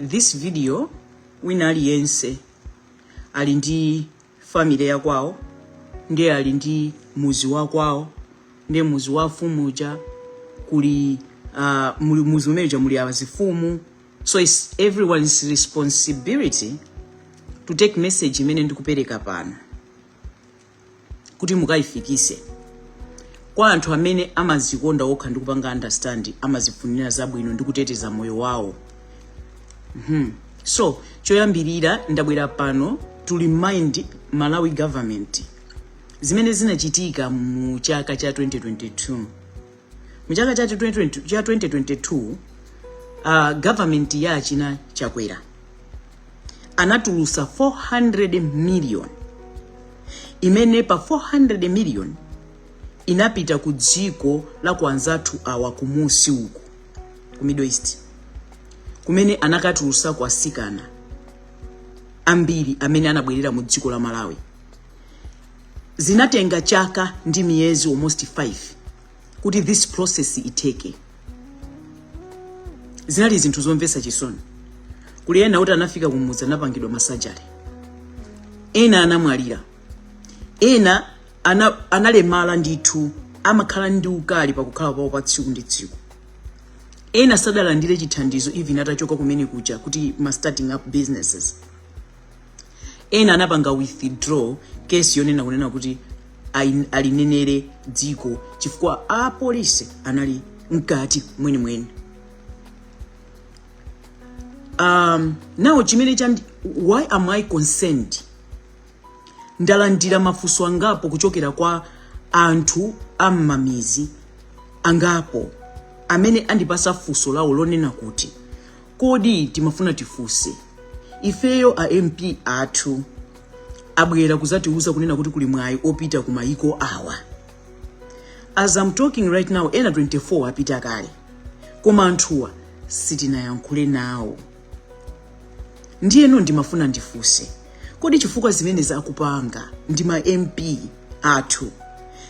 this video wina aliyense ali ndi family ya kwawo ndiye ali ndi muzi wa kwawo ndiye muzi wa afumu uja kuli uh, mu muzi umene uja muli azifumu so its everyone's responsibility to take message imene ndikupereka pano kuti mukayifikise kwa anthu amene amazikonda okha ndi kupanga understand amazifunira zabwino ndi kuteteza moyo wawo hmm. so choyambirira ndabwera pano to remind malawi government zimene zinachitika mu chaka cha 2022 mu chaka cha 2020 cha 2022 uh, government ya achina chakwera anatulusa 400 million imene pa 400 million inapita ku dziko la ku anzathu awa kumunsi uku ku middle east kumene anakatulusa kwa sikana ambiri amene anabwerera mu dziko la malawi zinatenga chaka ndi miyezi almost 5 kuti this process itheke zinali zinthu zomvesa chisoni kuli ena kuti anafika kumudzi anapangidwa ma surgery ena anamwalira ena ana, analemala ndithu amakhala ndi ukali pakukhala pawo pa tsiku ndi tsiku ena sadalandire chithandizo even atachoka kumene kuja kuti ma starting up businesses ena anapanga withdraw case yonena kunena kuti alinenere dziko chifukwa apolisi anali mkati mwenimweni um, now chimene cha why am i concerned ndalandira mafunso angapo kuchokera kwa anthu am'mamizi angapo amene andipasa funso lawo lonena kuti Kodi timafuna tifunse ifeyo a MP athu abwera kuzatiuza kunena kuti kuli mwayi wopita ku mayiko awa as I'm talking right now ena 24 apita kale koma anthuwa sitinayankhule nawo ndiyeno ndimafuna ndifunse kodi chifukwa zimenezi akupanga ndi ma MP athu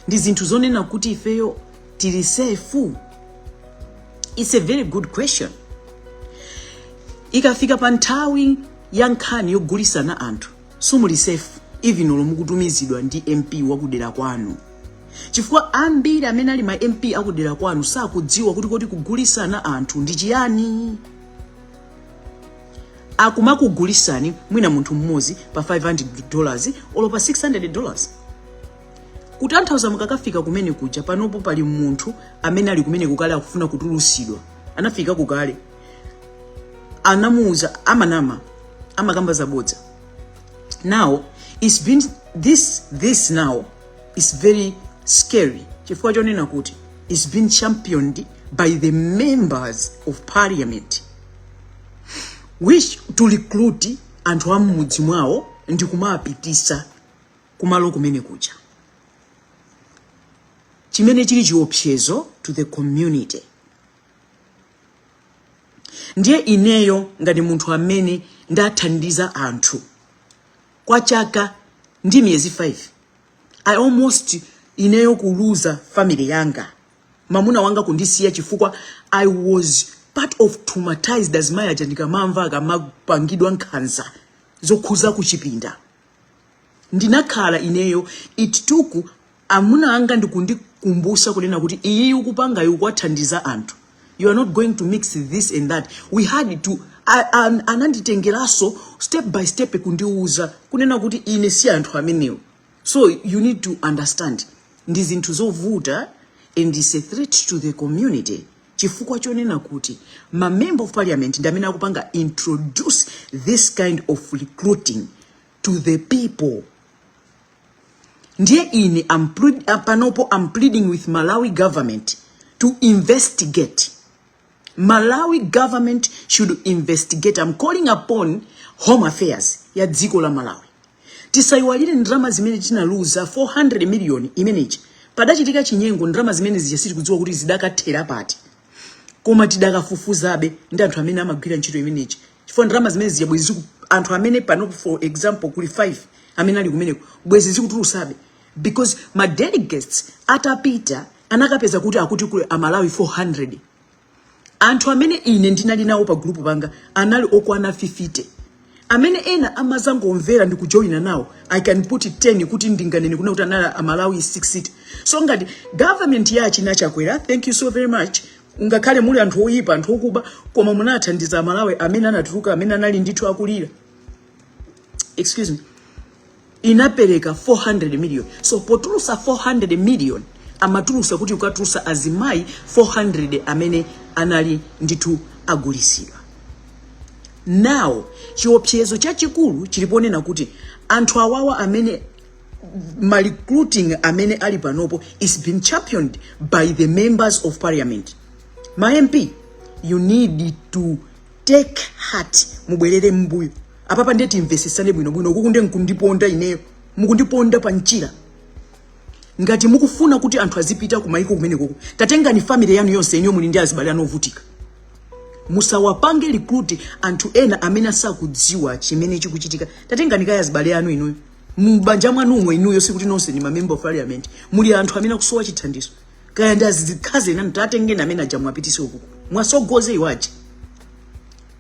ndi zinthu zonena kuti ifeyo tili safe its a very good question ikafika pa nthawi ya nkhani yogulisana anthu simuli safe even olo mukutumizidwa ndi mp wakudera kwanu chifukwa ambiri amene ali ma mp akudera kwanu sakudziwa kuti kodi kugulisana anthu ndi chiyani akumakugulisani mwina munthu mmodzi pa 500 dollars olo pa 600 dollars kutanthauza mukakafika kumene kuja panopo pali munthu amene ali kumene kukale akufuna kutulusidwa anafika kukale anamuuza amanama amakamba zabodza now it's been this this now is very scary chifukwa chonena kuti it's been championed by the members of parliament which to recruit anthu a mmudzi mwawo ndi kumapitisa kumalo kumene kuja chimene chili chiopsezo to the community ndiye ineyo ngati munthu amene ndathandiza anthu kwa chaka ndi miyezi 5 i almost ineyo kuluza family yanga mamuna wanga kundisiya chifukwa i was part of traumatized azimayi aja ndikamawamva akamapangidwa nkhanza zokhuza kuchipinda ndinakhala ineyo it took amuna anga ndikundikumbusa kunena kuti iyi ukupangayi ukuwathandiza anthu you are not going to mix this and that we had to ananditengeranso step by step kundiuza kunena kuti ine si anthu amenewo so you need to understand ndi zinthu zovuta and it's a threat to the community chifukwa chonena kuti ma member of parliament ndi amene akupanga introduce this kind of recruiting to the people ndiye ine panopo am pleading with malawi government to investigate malawi government should investigate am calling upon home affairs ya dziko la malawi tisayiwalire ndalama zimene tinaluza 400 million imeneji padachitika chinyengo ndalama zimene zija sitikudziwa kuti zidakathera pati koma tidakafufuzabe ndi anthu amene amagwira ntchito imeneji chifukwa ndalama zimene zija bwezi anthu amene pano for example kuli 5 amene ali kumeneko bwezi zikutulusabe because ma delegates atapita anakapeza kuti akuti kuli amalawi 400 anthu amene ine ndinali nawo pa group panga anali okwana 50 amene ena amazangomvera ndi kujoyina nawo i can put it 10 kuti ndinganene kunena kuti anali amalawi 60 so ngati government ya achina chakwera thank you so very much ngakhale muli anthu oyipa anthu okuba koma munathandiza amalawi amene anatuluka amene anali ndithu akulira excuse me inapereka 400 million so potulusa 400 million amatulusa kuti ukatulusa azimayi 400 amene anali ndithu agulisidwa now chiopsezo chachikulu chili ponena kuti anthu awawa amene ma recruiting amene ali panopo is being championed by the members of parliament ma mp you need to take heart mubwerere mbuyo apapa ndiye timvesesane bwinobwino ukuku ndiye nkundiponda ineyo mukundiponda pa mchira ngati mukufuna kuti anthu azipita kumayiko kumenekoko tatengani family yanu yonse inuyo muli ndi azibale anu ovutika musawapange recruit anthu ena amene asakudziwa chimene chikuchitika tatengani kaya azibale anu inuyo mbanja mwanumo inuyo sikuti nonse ni mamember of parliament muli anthu amene akusowa chithandizo kaya ndi azikazi enanu tatengeni amene aja muwapitise ukuku muwasogoze iwo aja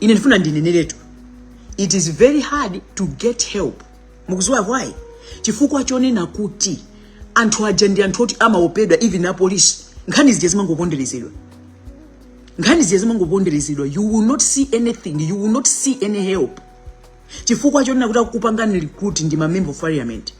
ine ndifuna ndineneretu it is very hard to get help mukuziwa why chifukwa chonena kuti anthu aja ndi anthu oti amaopedwa even apolisi nkhani zija zimangoponderezedwa nkhani zija zimangoponderezedwa you will not see anything you will not see any help chifukwa chonena kuti akupangani recruit ndi mamember of parliament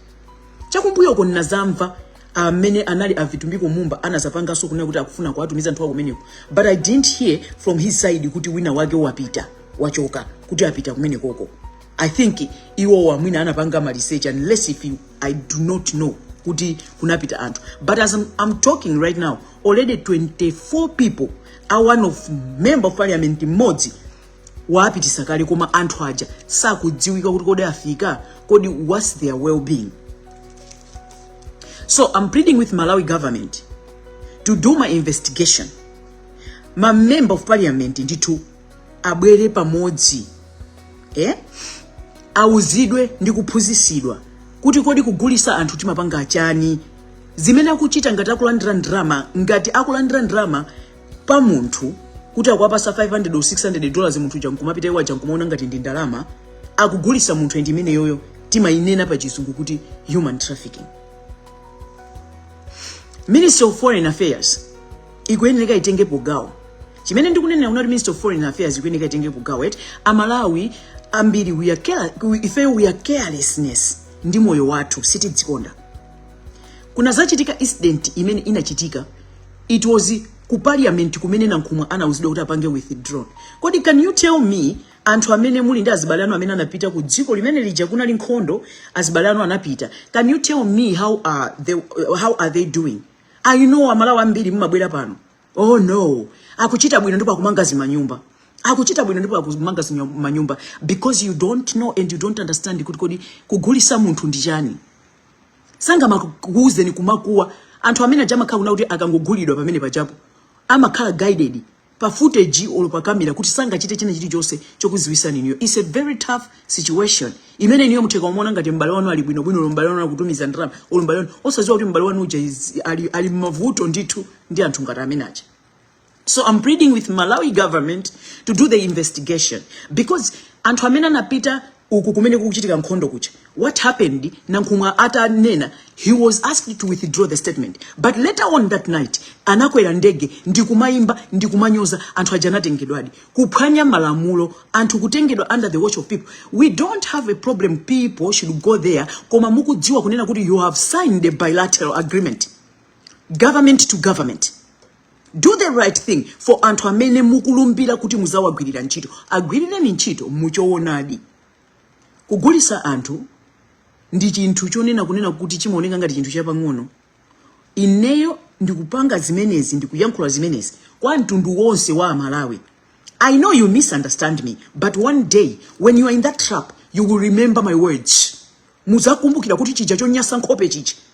chakumbuyoko nazamva amene anali avitumbiko mumba anazapanganso kunena kuti akufuna kuwatumiza anthu kumeneko but i didn't hear from his side kuti wina wake wapita wachoka kuti apita kumenekoko i think iwowo mwina anapanga ma research unless if i do not know kuti kunapita anthu but as i'm talking right now already 24 people a one of member of parliament mmodzi waapitisa kale koma anthu aja sakudziwika kuti kodi afika kodi what's their well-being So I'm pleading with Malawi government to do ma investigation. Ma member of parliament ndithu abwere pamodzi eh? auzidwe ndi kuphunzisidwa kuti kodi kugulisa anthu timapanga chani zimene akuchita ngati akulandira ndalama ngati akulandira ndalama pa munthu kuti akuwapasa 500 or 600 dollars munthu uja nkumapita iwo aja nkumaona ngati ndi ndalama akugulisa munthu and imeneyoyo timayinena pa chizungu kuti human trafficking ministry of foreign affairs ikuyenera itengepo gawo chimene ndikunenera kunena kuti ministry of foreign affairs ikuyenera itengepo gawo eti amalawi ambiri we are care, ifeyo we are carelessness ndi moyo wathu sitidzikonda kunazachitika incident imene inachitika it was ku parliament kumene nankhumwa anauzidwa kuti apange withdraw kodi can you tell me anthu amene muli ndi azibale anu amene anapita ku dziko limene lija kunali nkhondo azibale anu anapita can you tell me how are they doing i know amalawi ambiri mumabwera pano oh no akuchita bwino ndipo akumanga zimanyumba akuchita bwino ndipo akumanga zimanyumba because you don't know and you don't understand kuti kodi kugulisa munthu ndi chani sangamakuuzeni kumakhuwa anthu amene aja amakhala kunena kuti akangogulidwa pamene pajapo amakhala guarded pa footage olo pa kamera kuti sangachite china chilichonse chokuziwisani inuyo it's a very tough situation imene inuyo mutha kumaona ngati m'bale wanu ali bwino bwino m'bale wanu akutumiza ndalama olo m'bale wanu osadziwa kuti m'bale wanu uja ali mmavuto ndithu ndi anthu ngati amene aja so i'm pleading with malawi government to do the investigation because anthu amene anapita uku kumene kukuchitika nkhondo kucha what happened nankhumwa atanena he was asked to withdraw the statement but later on that night anakwera ndege ndikumayimba ndikumanyoza anthu aja anatengedwadi kuphwanya malamulo anthu kutengedwa under the watch of people we don't have a problem people should go there koma mukudziwa kunena kuti you have signed a bilateral agreement government to government do the right thing for anthu amene mukulumbira kuti muzawagwirira ntchito agwirireni ntchito muchowonadi kugulisa anthu ndi chinthu chonena kunena kuti chimaoneka ngati chinthu chapang'ono ineyo ndikupanga zimenezi ndikuyankhula zimenezi kwa mtundu wonse wa amalawi i know you misunderstand me but one day when you are in that trap you will remember my words muzakumbukira kuti chija chonyasa nkhope chichi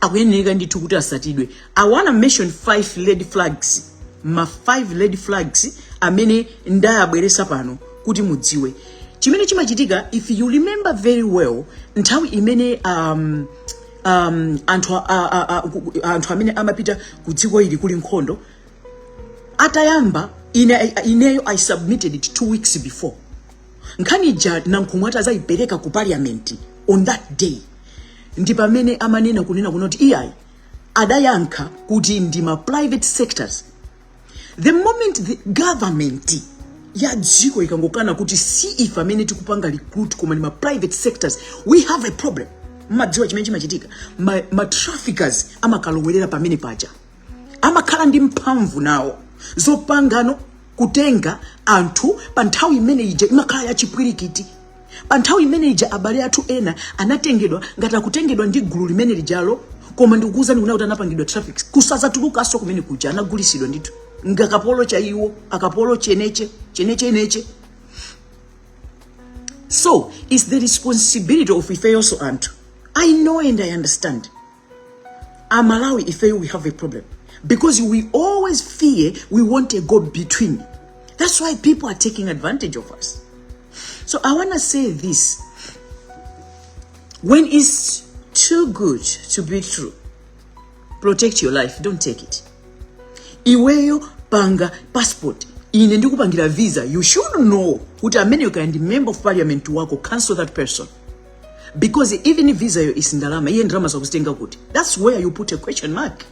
akuyeneneka ndithu kuti asatidwe i wanna mention five red flags ma five red flags amene ndayabweresa pano kuti mudziwe chimene chimachitika if you remember very well nthawi imene um, um, anthu, a, a, a, ku- anthu amene amapita ku dziko ili kuli nkhondo atayamba ine, ineyo i submitted it two weeks before nkhani ija nankhumwa ati azayipereka ku parliament on that day ndi pamene amanena kunena kunena kuti iyayi adayankha kuti ndi ma private sectors the moment the government ya dziko ikangokana kuti si ife amene tikupanga recruit koma ndi ma private sectors we have a problem mmadziwa chimene chimachitika ma, ma traffickers amakalowerera pamene paja amakhala ndi mphamvu nawo zopangano kutenga anthu pa nthawi imene ija imakhala ya chipwirikiti pa nthawi imene ija abale athu ena anatengedwa ngati akutengedwa ndi gulu limene lijalo koma ndikukuwuzani kuna kuti anapangidwa traffic kusazatulukanso kumene kuja anagulisidwa ndithu ngakapolo chaiwo akapolo cheneche cheneche neche so it's the responsibility of ifeyonso anthu i know and i understand amalawi ifeyo we have a problem because we always fear we want a go between that's why people are taking advantage of us so i want to say this when it's too good to be true protect your life don't take it iweyo panga passport ine ndikupangira visa you should know kuti amene you can member of parliament wako cancel that person because even if visa yo isindalama iye ndalama zo akuzitenga kuti that's where you put a question mark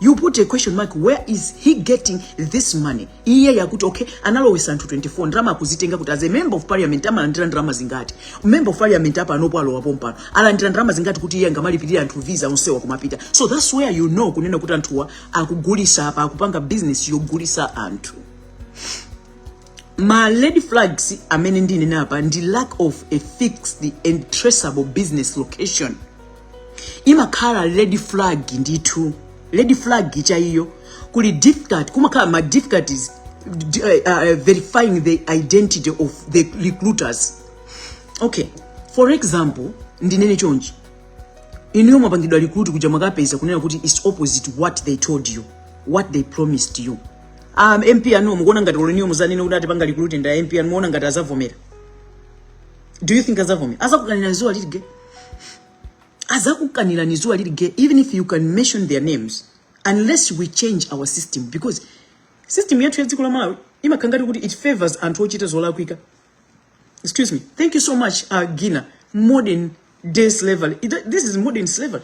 you put a question mark where is he getting this money iye yakuti okay analowesa anthu 24 ndalama akuzitenga kuti as a member of parliament amalandira ndalama zingati member of parliament apanopo alowa pompano alandira ndalama zingati kuti iye angamalipirire anthu visa onsewa kumapita so that's where you know kunena kuti anthuwa akugulisa apa akupanga business yogulisa anthu ma red flags amene ndinene apa ndi lack of a fixed and traceable business location imakhala red flag ndithu red flag yachiwiri kuli difficult kumakhala ma difficulties uh, uh, verifying the identity of the recruiters okay for example ndinene chonchi inuyo mwapangidwa recruit kuja mwakapeza kunena kuti its opposite what they told you what they promised you a MP anu mukuona ngati olo inuyo muzanene kuti atipanga recruit ndi a MP anu muona ngati azavomera do you think azavomera azakukanirani zuwa lili gwa azakukanirani zuwa lili gwa even if you can mention their names unless we change our system because system yathu ya dziko la malawi imakhala ngati kuti it favors anthu ochita zolakwika excuse me thank you so much uh, gina modern day slavery It- this is modern slavery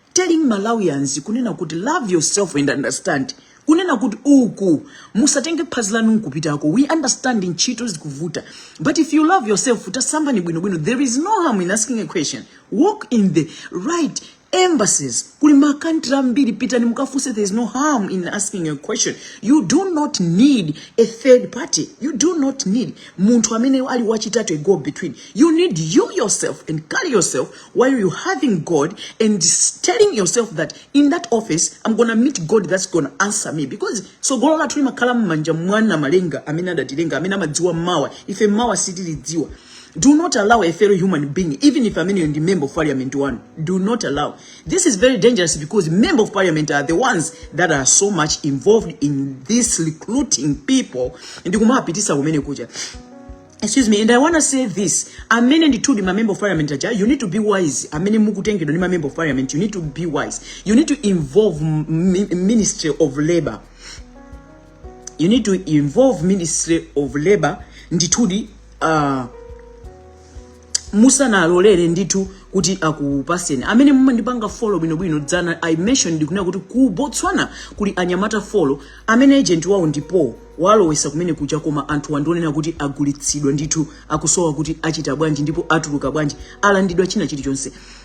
telling malawians kunena kuti love yourself and understand kunena kuti uku musatenge phazi lanu nkupitako we understand ntchito zikuvuta but if you love yourself tasambani bwinobwino there is no harm in asking a question walk in the right embassies kuli makantri ambiri pitani mukafunse there is no harm in asking a question you do not need a third party you do not need munthu amene ali wachitatu a go between you need you yourself and carry yourself while you having God and telling yourself that in that office I'm gonna meet God that's gonna answer me because so tsogolo lathu limakhala m'manja mwa Namalenga amene adatilenga amene amadziwa mawa ife mawa sitilidziwa do not allow a fellow human being even if ameneyo ndi member of parliament one do not allow this is very dangerous because member of parliament are the ones that are so much involved in this recruiting people ndi kumawapitisa kumene kuja Excuse me, and I want to say this. Amene ndithudi ma member of parliament aja, you need to be wise. Amene mukutengedwa ndi ma member of parliament, you need to be wise. You need to involve m- m- Ministry of Labor. You need to involve Ministry of Labor ndithudi uh, musanalolere ndithu kuti akupaseni amene mumandipanga folo bwinobwino dzana i mentioned ndikunena kuti ku botswana kuli anyamata folo amene agent wawo ndipo walowesa kumene kuja koma anthu akundionena kuti agulitsidwa ndithu akusowa kuti achita bwanji ndipo atuluka bwanji alandidwa china chilichonse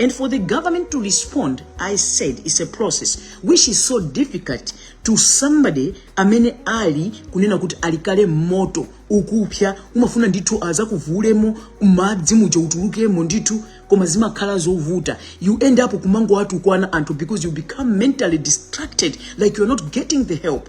And for the government to respond, I said it's a process which is so difficult to somebody amene ali kunena kuti ali kale m'moto ukupsya umafuna ndithu azakuvulemo madzi muja utulukemo ndithu koma zimakhala zovuta you end up kumangowatukwana anthu because you become mentally distracted like you're not getting the help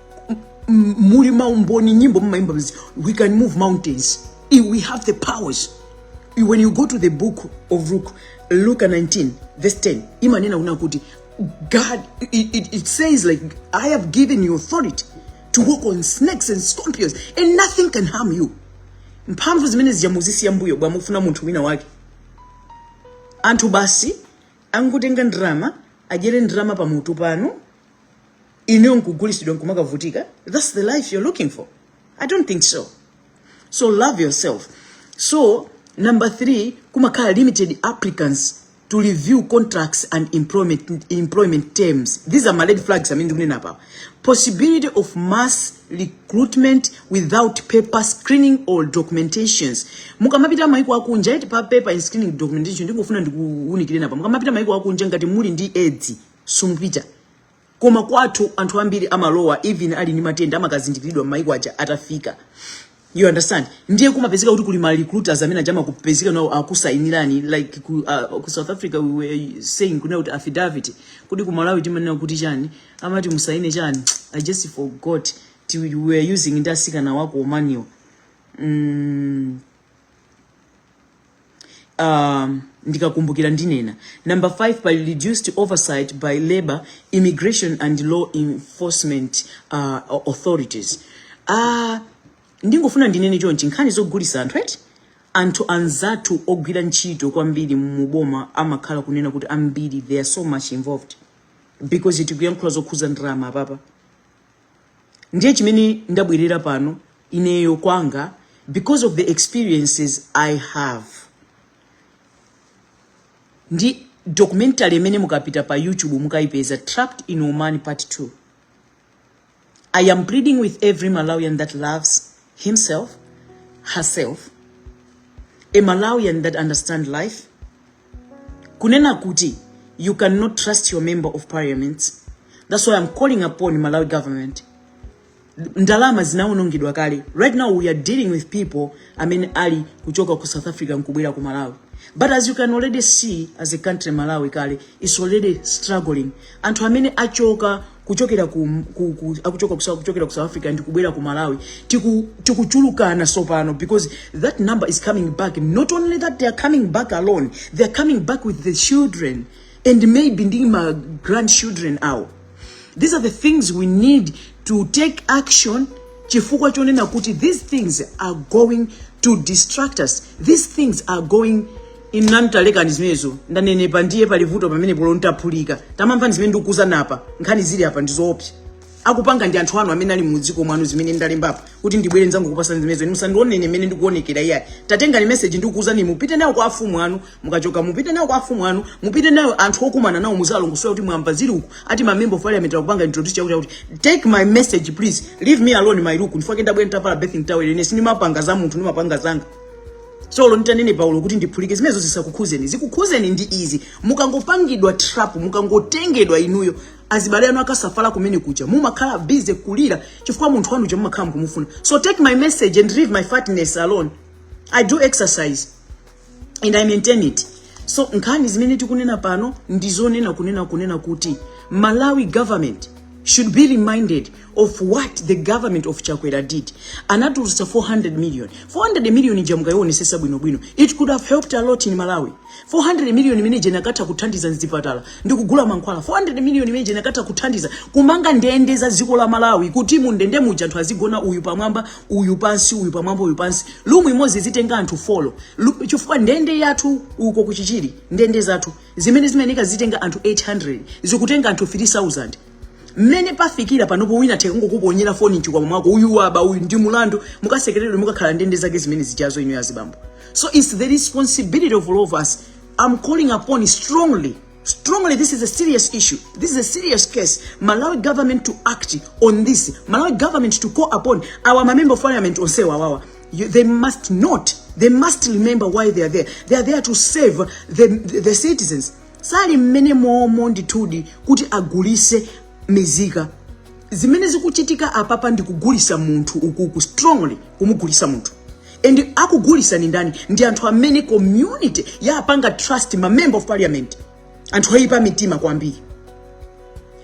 muli maumboni nyimbo mumaimba bzi we can move mountains if we have the powers when you go to the book of luke luke 19 verse 10 imanena kunena kuti god it, it, it says like i have given you authority to walk on snakes and scorpions and nothing can harm you mphamvu zimene zija muzisiya mbuyo bwanji mufuna munthu wina wake anthu basi angotenga ndrama adyere ndrama pamutu panu ineyo nkugulisidwa nkumakavutika thats the life you're looking for i don't think so so love yourself so number three kumakhala limited applicants to review contracts and employment, employment terms these are my red flags amene ndikunena apawa possibility of mass recruitment without proper screening or documentations mukamapita maiko akunja eti pa proper screening documentation ndingofuna ndikuunikireni apa mukamapita maiko akunja ngati muli ndi edzi sumupita koma kwathu anthu ambiri amalowa even ali ndi matenda amakazindikiridwa m'maiko aja atafika you understand ndiye kumapezeka kuti kuli ma recruiters amene aja amakupezeka nawo akusainirani like ku, uh, ku south africa we were saying kunena kuti affidavit kuti ku malawi timanena kuti chani amati musaine chani i just forgot Ti- we were using ndi asikana a ku Omaniwa mm, um, ndikakumbukira ndinena number 5 pali reduced oversight by labor immigration and law enforcement uh, authorities uh, ndingofuna ndinene chonchi nkhani zogulisa anthu eti anthu anzathu ogwira ntchito kwambiri muboma amakhala kunena kuti ambiri they are so much involved because tikuyankhula zokhuza ndalama apapa ndiye chimene ndabwerera pano ineyo kwanga because of the experiences i have ndi documentary imene mukapita pa youtube mukayipeza trapped in oman part 2 i am pleading with every malawian that loves himself herself a malawian that understand life kunena kuti you cannot trust your member of parliament that's why i'm calling upon malawi government ndalama zinawonongedwa kale right now we are dealing with people amene ali kuchoka ku south africa nkubwera ku malawi but as you can already see as a country malawi kale is already struggling anthu amene achoka kuchokera ku, ku, ku akuchoka ku South- kuchokera ku South Africa ndi kubwera ku Malawi tiku tikuchulukana sopano because that number is coming back not only that they are coming back alone they are coming back with the children and maybe ndi ma grandchildren awo these are the things we need to take action chifukwa chonena kuti these things are going to distract us these things are going inu nanu talekani zimenezo ndanenepa eti ndiye pali vuto pamenepo olo ntaphulika tamamvani zimene ndikukuuzani apa nkhani zili apa ndizoopsa akupanga ndi anthu anu amene ali mudziko mwanu zimene ndalembapo kuti ndibwere nzakupasani zimenezo inu musandionene mmene ndikuonekera iyayi tatengani meseji ndikukuuzani mupite nayo kwa afumu anu mukachoka mupite nayo kwa afumu anu mupite nayo anthu okumana nawo muziwalongosolera kuti mwamva zili uku ati mamember of parliament akupanga introduce chakuti chakuti take my message please leave me alone my look ndifake ndabwere nditavala bathing towel ine sindimapanga za munthu ndimapanga zanga so olo nitanenepa olo kuti ndiphulike zimenezo zisakukhuzeni zikukhuzeni ndi izi mukangopangidwa trap mukangotengedwa inuyo azibale anu akasafala kumene kuja mumakhala busy kulira chifukwa munthu wanu uja mumakhala mukumufuna so take my message and leave my fatness alone i do exercise and i maintain it so nkhani zimene tikunena pano ndizonena kunena kunena kuti malawi government should be reminded of what the government of chakwera did anatulutsa 400 million 400 million ija mukayionesesa bwinobwino it could have helped a lot in malawi 400 million imene ija inakatha kuthandiza mzipatala ndi kugula mankhwala 400 million imene ija inakatha kuthandiza kumanga ndende za dziko la malawi kuti mu ndende muja anthu azigona uyu pamwamba uyu pansi uyu pamwamba uyu pansi room imodzi izitenga anthu 4 Lu- chifukwa ndende yathu uko ku chichiri ndende zathu zimene zimayeneka zitenga anthu 800 zikutenga anthu 3000 mmene pafikira panopo wina atha kungokuponyera foni mchikwama mwako uyu waba uyu ndi mulandu mukasekeredwe mukakhala ndende zake zimene zijazo inuyo azibambo so it's the responsibility of all of us i'm calling upon strongly strongly this is a serious issue this is a serious case malawi government to act on this malawi government to call upon our member of parliament onse awawa you, they must not they must remember why they are there they are there to serve the, the, the citizens sali mmenemomo ndithudi kuti agulise mizika zimene zikuchitika apapa ndi kugulisa munthu ukuku strongly kumugulisa munthu and akugulisa ni ndani ndi anthu amene community yapanga trust ma member of parliament anthu oyipa mitima kwambiri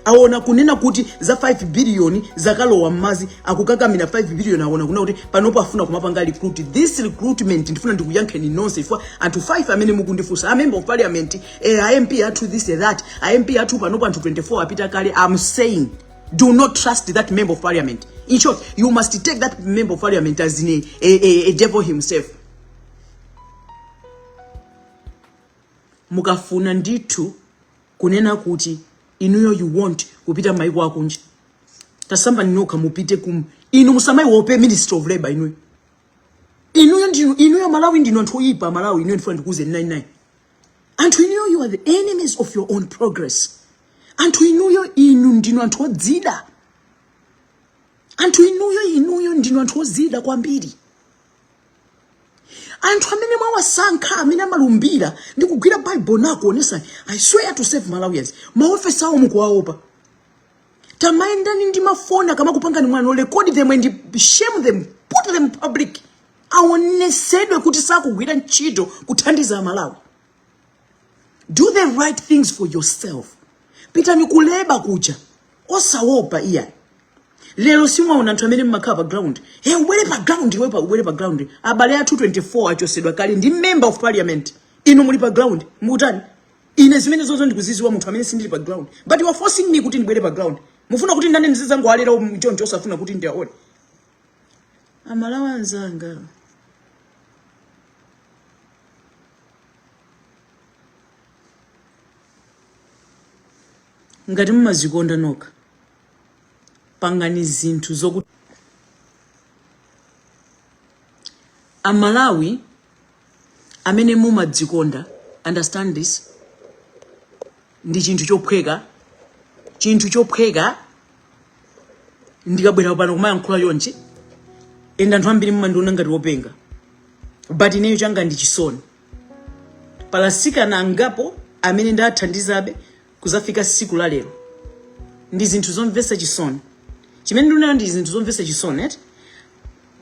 aona kunena kuti za 5 billion zakalowa mmazi akukakamira 5 billion aona kunena kuti panopo afuna kumapanga recruit this recruitment ndifuna ndikuyankheni nonse inu anthu 5 amene mukundifunsa a member of parliament eh, a MP athu this eh, that a MP athu panopo anthu 24 apita kale i'm saying do not trust that member of parliament in short you must take that member of parliament as in a, a, a, a devil himself mukafuna ndithu kunena kuti inuyo you want kupita mmaiko akunja tasambani nokha mupite kum inu musamaiwope ministry of labor inuyo inuyo ndinu inuyo amalawi ndinu anthu oyipa amalawi inuyo ndifuna ndikuuzeni 99 anthu inuyo you are the enemies of your own progress anthu inuyo inu ndinu anthu odzida anthu inuyo inuyo ndinu anthu odzida kwambiri anthu amene mwawasankha amene amalumbira ndi kugwira baibulo nakuonesa i swear to serve malawians maofesi awo mukuwaopa tamayendani ndi mafoni akamakupangani mwano record them and shame them put them public aonesedwe kuti sakugwira ntchito kuthandiza amalawi do the right things for yourself pitani kuleba kuja osawopa iyayi lero simwaona anthu amene mmakhala pa ground e ubwere pa ground o ubwere pa ground abale athu 24 achosedwa kale ndi member of parliament inu muli pa ground mutani ine zimene zozo ndikuziziwa munthu amene sindili pa ground but you are forcing me kuti ndibwere pa ground mufuna kuti ndidane ndi anzanga alera choncho osafuna kuti ndiaone amalawi anzanga ngati mumazikonda nokha pangani zinthu zokuti amalawi amene mumadzikonda understand this ndi chinthu chophweka chinthu chophweka ndikabwera pano kumayankhula chonchi ende anthu ambiri mmandiona ngati wopenga but ineyo changa ndi chisoni palasikana angapo amene ndathandizabe kuzafika siku la lero ndi zinthu zomvesa chisoni chimene ndikunenacho ndi zinthu zomvesa chisoni eti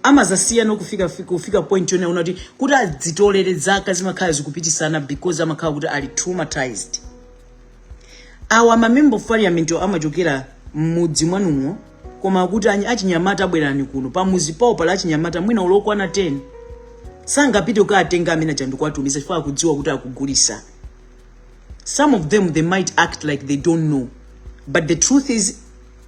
amazasiyano kufika kufika point yonena kuti adzitolere zaka zimakhala zikupitisana because amakhala kuti ali traumatized awa mamember of parliament amachokera mmudzi mwanumo koma kuti anyi- achinyamata abwerani kuno pamuzi pawo pali achinyamata mwina okwana 10 sangapite kukatenga amene aja ndikuwatumiza chifukwa akudziwa kuti akugulisa some of them they might act like they don't know but the truth is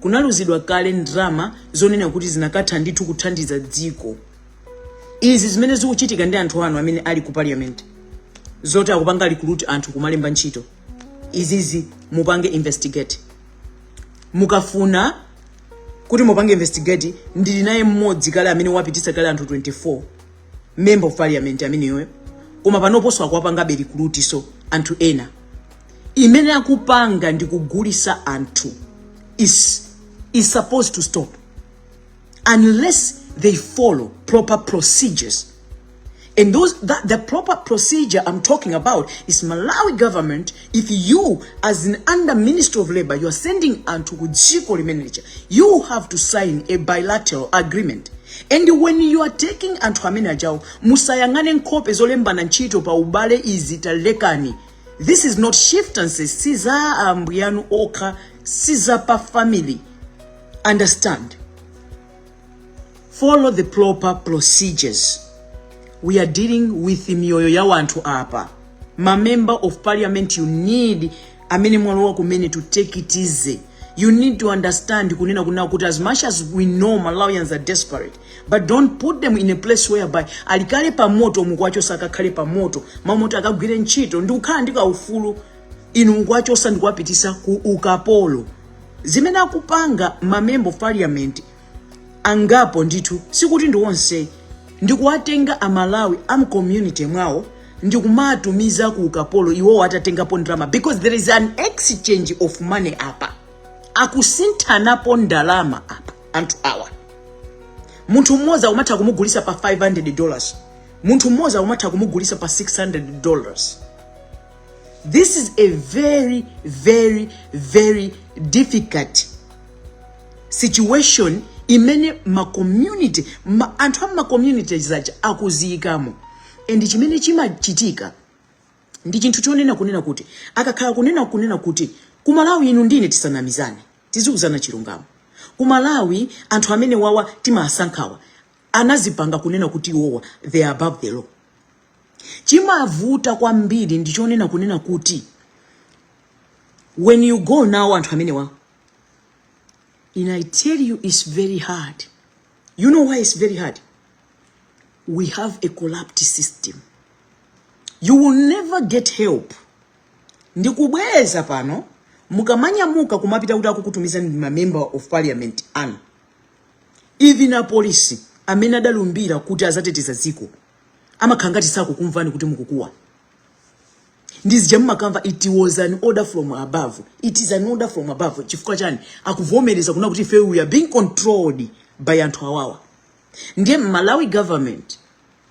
kunaluzidwa kale ndrama zonena kuti zinakatha ndithu kuthandiza dziko izi zimene zikuchitika ndi anthu anu amene ali ku parliament zoti akupanga recruit anthu kumalemba ntchito izizi mupange investigate mukafuna kuti mupange investigate ndili naye mmodzi kale amene wapitisa kale anthu 24 member of parliament ameneyoyo koma panoponso akuwapangabe recruitso anthu ena zimene akupanga ndi kugulisa anthu is supposed to stop unless they follow proper procedures and the proper procedure i'm talking about is malawi government if you as an under ministry of labor you are sending anthu ku dziko limene lija you have to sign a bilateral agreement and when you are taking anthu amene ajawo musayang'ane nkhope zolembana ntchito pa ubale izi talekani this is not shiftancy si za ambuyanu okha si za pa family understand follow the proper procedures we are dealing with miyoyo ya wanthu apa ma member of parliament you need amene mwalowa kumene to take it easy you need to understand kunena kunena kuti as much as we know malawians are desperate but don't put them in a place whereby ali kale pa moto mukuwachosa akakhale pa moto mmalo moti akagwire ntchito ndi kukhala ndi kaufulu inu mukuwachosa ndi kuwapitisa ku ukapolo zimene akupanga ma member of parliament angapo ndithu sikuti ndi onse ndi kuwatenga amalawi a mcommunity mwawo ndi kumatumiza ku ukapolo iwowo atatengapo ndalama because there is an exchange of money apa akusinthanapo ndalama apa anthu awa munthu mmodzi akumatha kumugulisa pa 500 dollars munthu mmodzi akumatha kumugulisa pa 600 dollars this is a very very very difficult situation imene macommunity ma, anthu a macommunity zaja akuziyikamo and chimene chimachitika ndi chinthu chonena kunena kuti akakhala kunena kunena kuti kumalawi inu ndi ine tisanamizane tizikuzana chilungamo ku Malawi anthu amene wawa timasankhawa anazipanga kunena kuti iwowa they are above the law chimavuta kwambiri ndichonena kunena kuti when you go now anthu amene wawa and i tell you it's very hard you know why it's very hard we have a corrupt system you will never get help Ndikubwereza pano, mukamanyamuka kumapita kuti akukutumiza ndi ma member of parliament anu, even apolisi amene adalumbira kuti azateteza dziko amakhala ngati sakukumvani kuti mukukuwa. Ndi zija mumakamva it was an order from above, it is an order from above. Chifukwa chani akuvomereza kuna kuti ife we are being controlled by anthu awawa? Ndiye Malawi government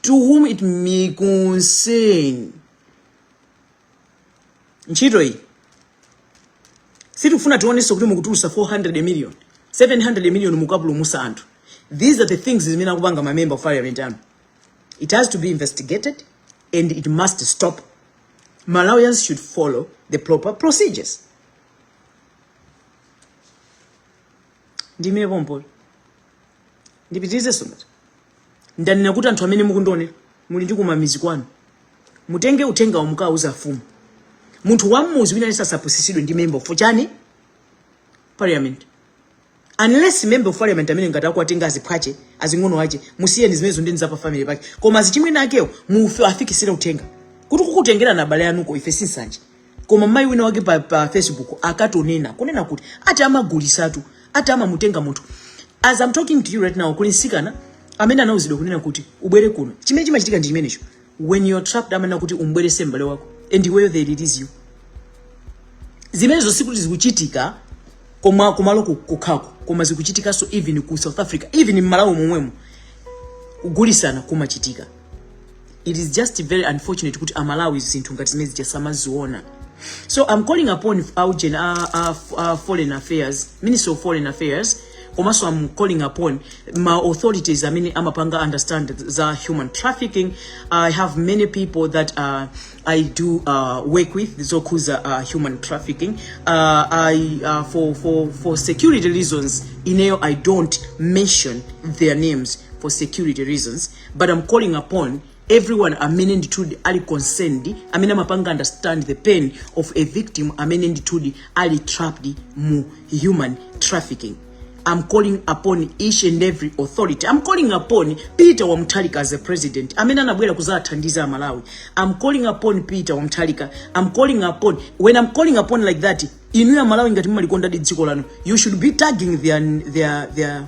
to whom it may concern ntchito iyi sitifuna tionenso kuti mukutulusa 400 million 700 million mukapulumusa anthu these are the things zimene akupanga ma member of parliament anu it has to be investigated and it must stop malawians should follow the proper procedures ndimire pompo ndipitirize sopano ndanena kuti anthu amene mukundionera muli ndi kumamizi kwanu mutenge uthengawo mukauze afumu munthu wammuzi wina aliyense asapusisidwe ndi member of chani parliament unless member of parliament amene ngati akuwatenga aziphwache azing'ono ache musiyeni zimenezo ndi zapa family pake koma azichimwene akewo muwafikisire uthenga kuti kukutengerana abale anuko ife sinsanje koma mayi wina wake pa, pa facebook akatonena kunena kuti ati amagulisatu ati amamutenga munthu as i'm talking to you right now kuli nsikana amene anauzidwa kunena kuti ubwere kuno chimene chimachitika ndi chimenecho when you're trapped amanena kuti ubwerese mbale wako and iweyo they release you zimenezo sikuti zikuchitika kumalo kukhako koma zikuchitikanso even ku south africa even mmalawi momwemo kugulisana kumachitika it is just very unfortunate kuti amalawi zinthu ngati zimene zija samaziona so i'm calling upon augen a, uh, a, uh, a uh, foreign affairs ministry of foreign affairs komanso i'm calling upon ma authorities amene amapanga understand za human trafficking i have many people that uh, i do uh, work with zokhuza uh, human trafficking uh, I, uh, for, for, for security reasons ineyo i don't mention their names for security reasons but i'm calling upon everyone amene ndithudi ali concerned amene amapanga understand the pain of a victim amene ndithudi ali trapped mu human trafficking I'm calling upon each and every authority. I'm calling upon Peter wa Mutharika as a president. Amene anabwera kuzathandiza aMalawi. I'm calling upon Peter wa Mutharika. I'm calling upon when I'm calling upon like that, inuyo aMalawi ngati mumalikonda dziko lanu. You should be tagging their their their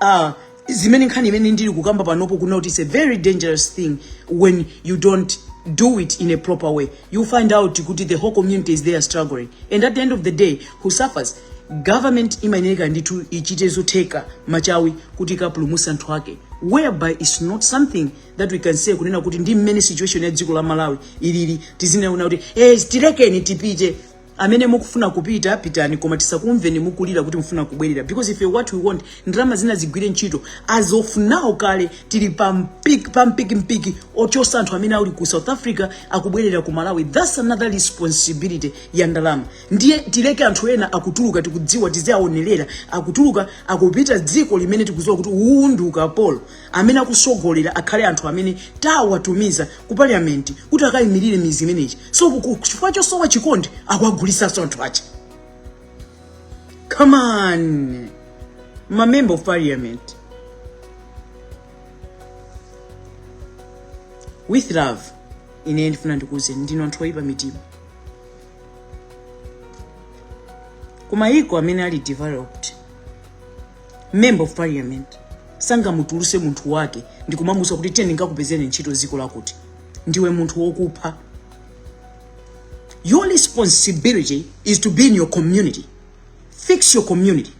uh, zimene nkhani imene ndili kukamba panopo kunena kuti it's a very dangerous thing when you don't do it in a proper way you find out kuti the whole community is there struggling and at the end of the day who suffers government imayenekadi ndithu ichite zotheka machawi kuti ikapulumutse anthu ake whereby its not something that we can say kunena kuti ndi mmene situation ya dziko la malawi ilili tiziona kuti hey, eh, tilekeni tipite amene mukufuna kupita pitani koma tisakumveni mukulira kuti mufuna kubwerera because ife what we want ndalama zina zigwire ntchito as of now kale tili pa mpikimpiki ochosa anthu amene ali ku south africa akubwerera ku malawi that's another responsibility ya ndalama ndiye tileke anthu ena akutuluka tikudziwa tiziwaonerera akutuluka akupita dziko limene tikudziwa kuti uwu ndi ukapolo Amene akusogolera akhale anthu amene tawatumiza ku parliament kuti akaimilire mizi imeneyo. So chifukwa chosowa chikondi akuwagulisanso anthu aja. Come on. Ma member of parliament. With love. Ine ndifuna ndikuuzeni ndinu anthu oyipa mitima. Kumayiko amene ali developed member of parliament sangamutuluse munthu wake ndikumamuuza kuti tiye ndikakupezere ntchito ziko lakuti ndiwe munthu wokupha your responsibility is to be in your community fix your community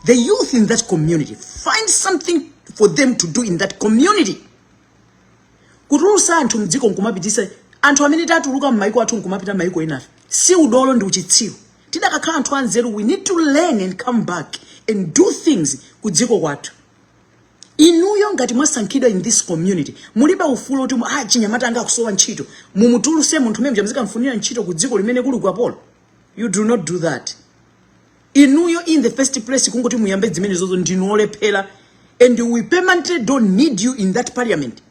the youth in that community find something for them to do in that community kutulusa anthu mdziko nkumapitisa anthu amene tatuluka m'maiko athu nkumapita maiko ena ife si udolo ndi uchitsiru tidakakhala anthu anzeru we need to learn and come back and do things ku dziko kwathu inuyo ngati mwasankhidwa in this community mulibe ufulu oti ah, achinyamata anga akusowa ntchito mumutuluse munthu mmenemuja muzikamfunira ntchito ku dziko limene kuli ukapolo you do not do that inuyo in the first place kungoti muyambe zimenezozo ndinu olephera and we permanently don't need you in that parliament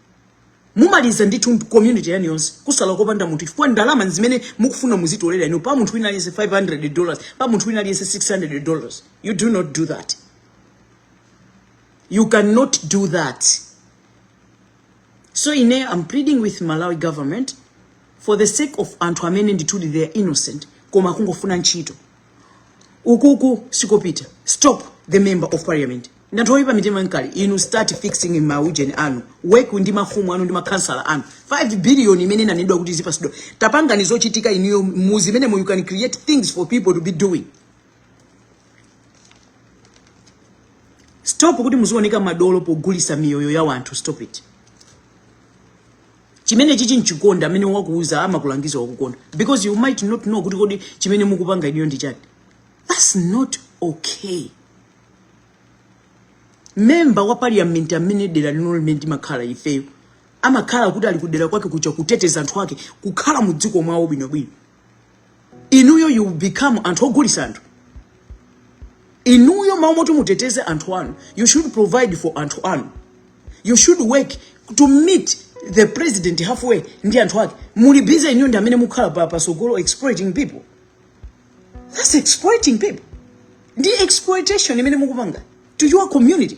mumaliza ndithu community yanu yonse kusala kopanda munthu chifukwa ndalama zimene mukufuna muzitolera inu pa munthu wina aliyense 500 dollars pa munthu wina aliyense 600 dollars you do not do that you cannot do that so ine i'm pleading with malawi government for the sake of anthu amene ndithudi they are innocent koma akungofuna ntchito ukuku sikopita stop the member of parliament ndanthu oyipa mitima ngati inu start fixing mauyeni anu work ndi mafumu anu ndi makhansala anu 5 billion imene inanedwa kuti zizipasidwa tapangani zochitika inuyo muzi imene you can create things for people to be doing stop kuti muzioneka madolo pogulisa miyoyo ya wanthu stop it chimene chichi nchikonda amene wakuuza amakulangiza wakukonda because you might not know kuti kodi chimene mukupanga inuyo ndi chani that's not okay memba wa parliament amene dera lino limene mumakhala ifeyo amakhala kuti ali kudera kwake kuja kuteteza anthu ake kukhala mu dziko mwawo bwinobwino inuyo you become anthu ogulisa anthu inuyo m'malo moti muteteze anthu anu you should provide for anthu anu you should work to meet the president halfway ndi anthu ake muli busy inuyo ndi amene mukhala pasogolo exploiting people that's exploiting people ndi exploitation imene mukupanga to your community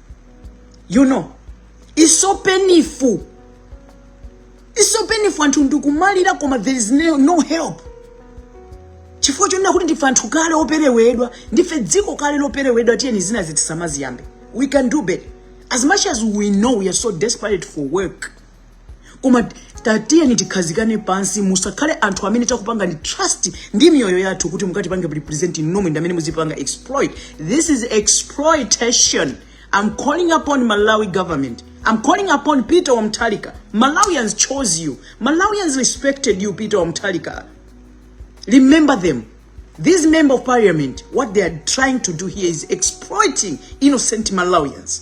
you know it's so painful it's so painful anthu ndikumalira koma there is no help chifukwa chonena kuti ndife anthu kale operewedwa ndife dziko kale loperewedwa tiyeni zina zitisamaziyambe we can do better as much as we know we are so desperate for work koma tatiyeni tikhazikane pansi musakhale anthu amene takupangani trust ndi miyoyo yathu kuti mukatipange represent nomwe ndi amene muzipanga exploit this is exploitation i'm calling upon malawi government i'm calling upon peter mutharika malawians chose you malawians respected you peter mutharika remember them this member of parliament what they are trying to do here is exploiting innocent malawians